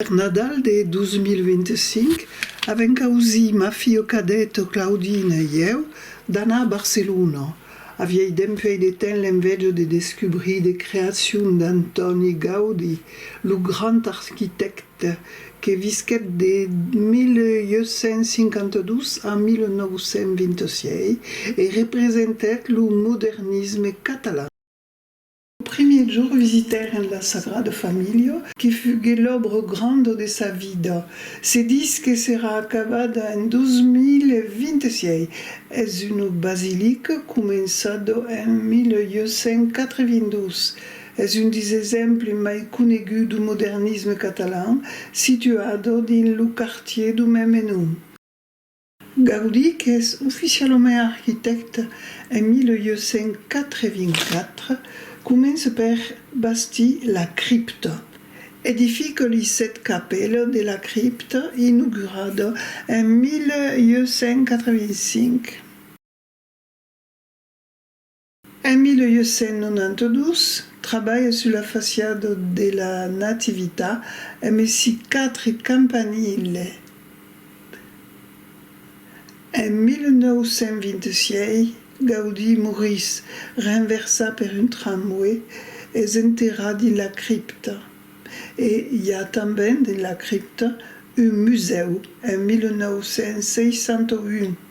Per Nadal de 2025, avèm causir ma filha cadeta Claudina e ieu d'anar a Barcelona. Avièidem fèit de temps l'enveja de descubrir de creacion d'Antòni Gaudi, lo grand arquitècte. Ed, que visquèt de 1852 a 1926 e representèt lo modernisme catalan. Lo primièr jorn visitèren la Sagrada Familha, que fuguèt l'òbra granda de sa vida. Se ditz que serà acabada en 2026. Es una basilica començada en 1882. Es un des exemples mai coneguts du modernisme catalan, situado dins lo quartier du meme nom. Gaudí qu'es oficialament arquitècte en 1884, comença per bastir la cripta. Edifica li sèt capèlas de la cripta inaugurada en 1885. En 1892, trabalha sus la faciada de la Natività e mesi quatre campanile. En 1926, Gaudí morís, renversat per un tramway, es enterrat dins la cripta. E i a tanben dins la cripta un musèu en 1961.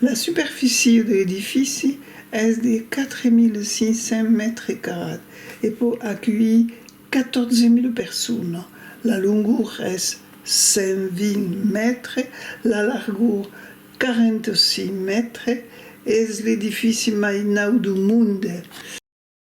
La superficie de l'edifici es de 4.500 mètres carrats e pòt aculhir 14.000 personas. La longor es 120 mètres, la largor 46 mètres. Es l'edifici mai naut dau monde.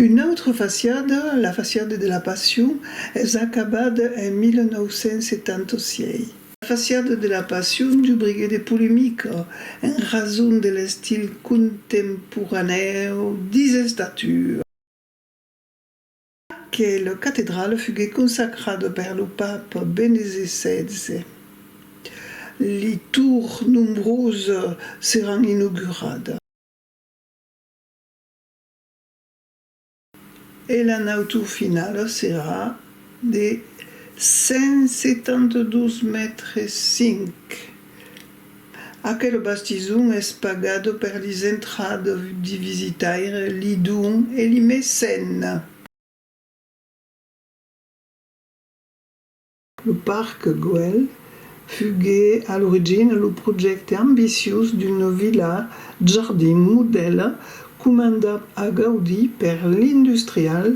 Una autra fasiada, la fasiada de la Passion, es acabada en 1976. La fasiada de la Passion dubriguèt de polemica en rason de l'estil contemporanèu dis estatua. Aquela catedrala fuguèt consacrada per lo papa Benese xvi. Li tours nombrosas seràn inauguradas. E la nautor finala serà de 172 mètres 5. Aquel bastison es pagat per lis entrada di visitaire, li don e li mecène. Lo Parc Güell fugué a l'origina lo projècte ambiciós d'una vila jardin modèla comandat a Gaudí per l'industrial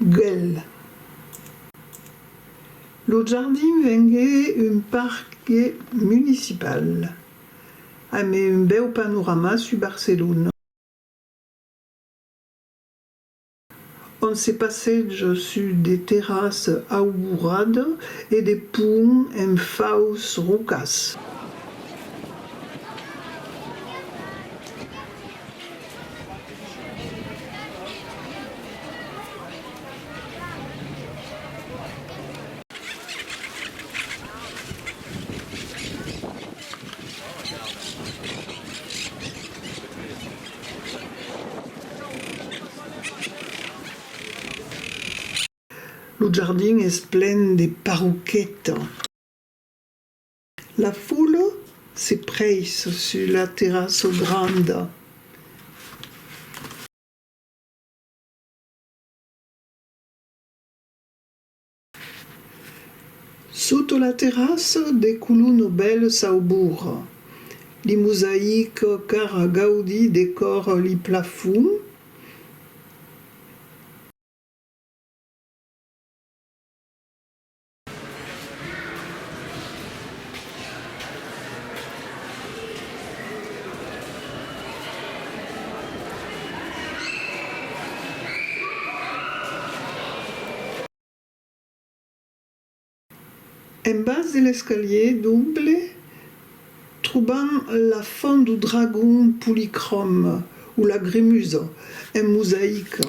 Güell. Lo jardin vengué un parque municipal amb un bèu panorama sus Barcelona. ont se passeja sus de terras aubourada e de pont en faus rocas. Lo jardin es plen de parroqueta. La fola se preissa sus la terrassa granda. Sota la terrassa de Colono bèl saubour. Li mosaic cara Gaudi decòr li plafon. En bas de l'escalier doble trobam la font du dragon policròm o la gremusa en mosaica.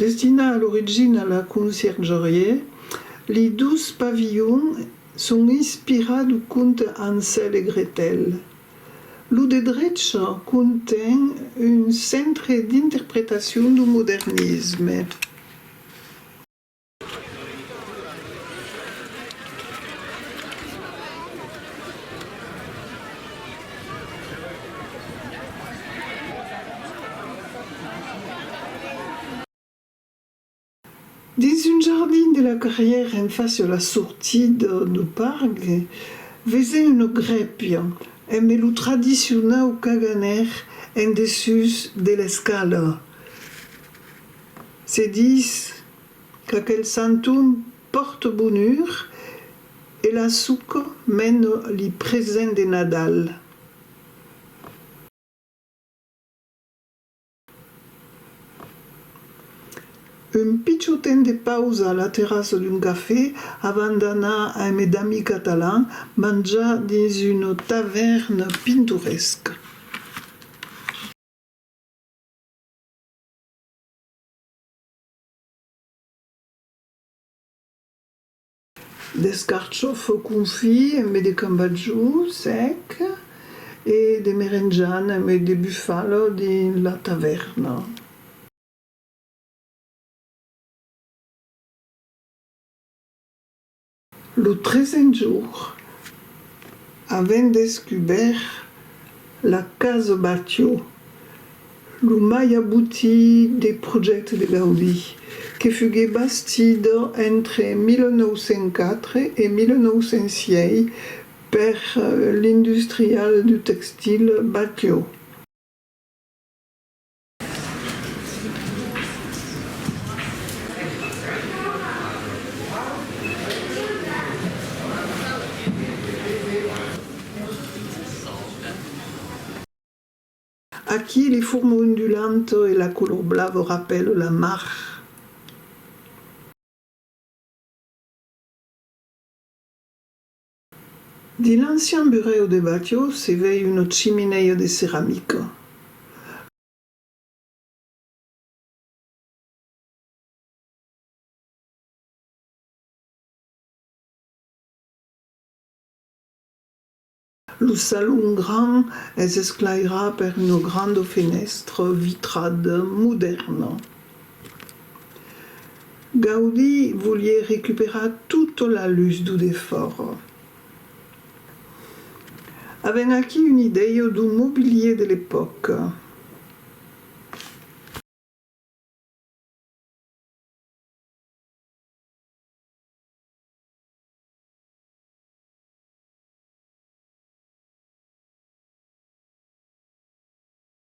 Destinat a l'origina a la conciergerie, li dus pavilhons son inspirats du conte Hansèl e Gretèl. Lo de drecha conten un centre d'interpretacion du modernisme. Dins un jardin de la carrièra en fàcia la sortida dau parc vesèm una grèpia embe lo tradicionau caganer en dessús de l'escala. Se dis Qu'aquel santum pòrte bonur e la suco mène li present de Nadal. Un pichon temps de pausa a la terrassa d'un cafè avant d'anar a mes d'amis catalans manjar dins una tavèrna pintoresca. D'escarchòf confit embé de cambatjò sèc e de merenjana embé de bufalo dins la tavèrna. Lo tresen jour, avent descubèrt la casa Batio, lo mai abutit de projècte de Gaudí, que fugué bastida entre 1904 e 1906 per l'industrial du textil Batio, Aquí li forma ondulanta e la color blava rapèla la mar. Dins l'ancian burèu de Batlló se vei una chiminèia de ceramica. Lo salon gran es esclairat per una granda fenèstra vitrada modèrna. Gaudí volié recuperar tota la lus d'o defòra. Avèm aquí una idèia d'o mobilier de l'epòca.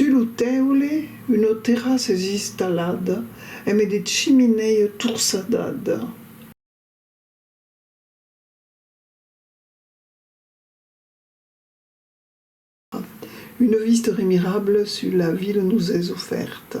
Sus lo teule, una terrassa es installada eme de chiminèia torçadada. Una vista remirabla sus la vila nos es ofèrta.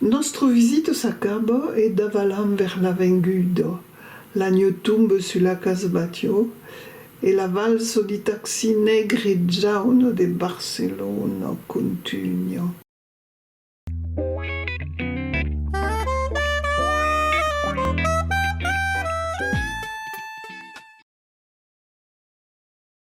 Nòstre visita s'acaba e davalam vers la venguda. L'agno tombe sus la casbatjo e la valsa di taxi negre e jauna de Barcelona contunha.